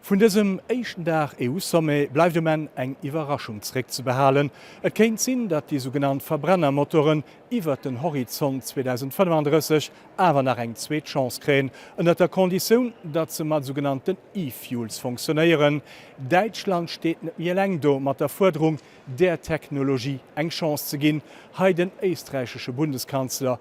Vun dësem éischten Dag EU-Sommet bleift um Enn eng Iwwerraschung zréckzebehalen. Et kéint sinn, datt déi sougenannt Verbrennermotoren iwwert den Horizont 2035 awer nach eng zweet Chance kréien, ënnert der Konditioun, datt se mat sougenannten E-Fuels funktionéieren. Däitschland steet net méi eleng do mat der Fuerderung, där Technologie eng Chance ze ginn, hei den éisträichesche Bundeskanzler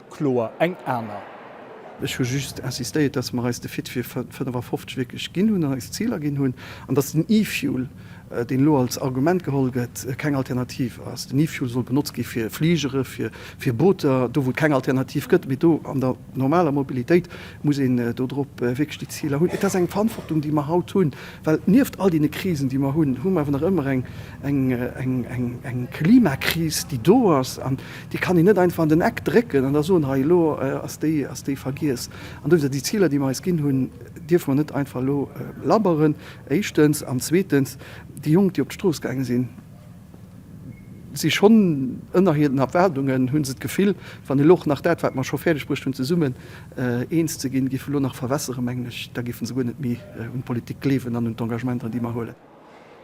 kloer eng aner. Ech hu just insistéiert, dass mer eis de Fit fir 55 wierklech ginn hunn an eis Ziler ginn hunn an dass den E-Fuel, deen elo als Argument geholl gëtt, keng Alternativ ass. Den E-Fuel soll benotzt gi fir Fligere, fir Booter, do wou et keng Alternativ gëtt. Mee do an der normaler Mobilitéit muss een dodrop wierklech déi Ziler hunn. Et ass eng Verantwortung, déi mer haut hunn, well nieft all deene Krisen, déi mer hunn, hu mer awer nach ëmmer eng Klimakris, déi do ass an Déi kann een net einfach an den Eck drécken an da soen, hei elo ass déi ass déi vergiess. An dowéinst, déi Ziler, déi mer eis ginn hunn, dierfe mer net einfach elo labberen, éischtens. An zweetens, déi Jonk, déi op d'Strooss gaange sinn, si schonn ënner hiren Erwaardungen, hu se d'Gefill, wann elo och nach dat, wat mer scho fäerdeg bruecht hunn, zesummen eens ze ginn, géif elo nach verwässere, mengen ech, da géife se guer net méi un d'Politik gleewen an un d'Engagementer, déi mer huelen.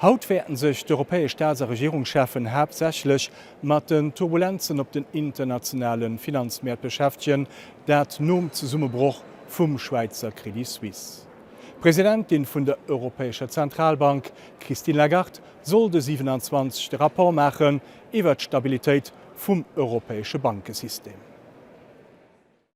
Haut wäerten sech d'europäesch Staats a Regierungschefen haaptsächlech mat den Turbulenzen op den internationale Finanzmäert beschäftegen, dat nom Zesummebroch vum Schwäizer Credit Suisse. D'Presidentin vun der Europäescher Zentralbank, Christine Lagarde, soll de 27 de Rapport maachen iwwert d'Stabilitéit vum europäesche Bankesystem.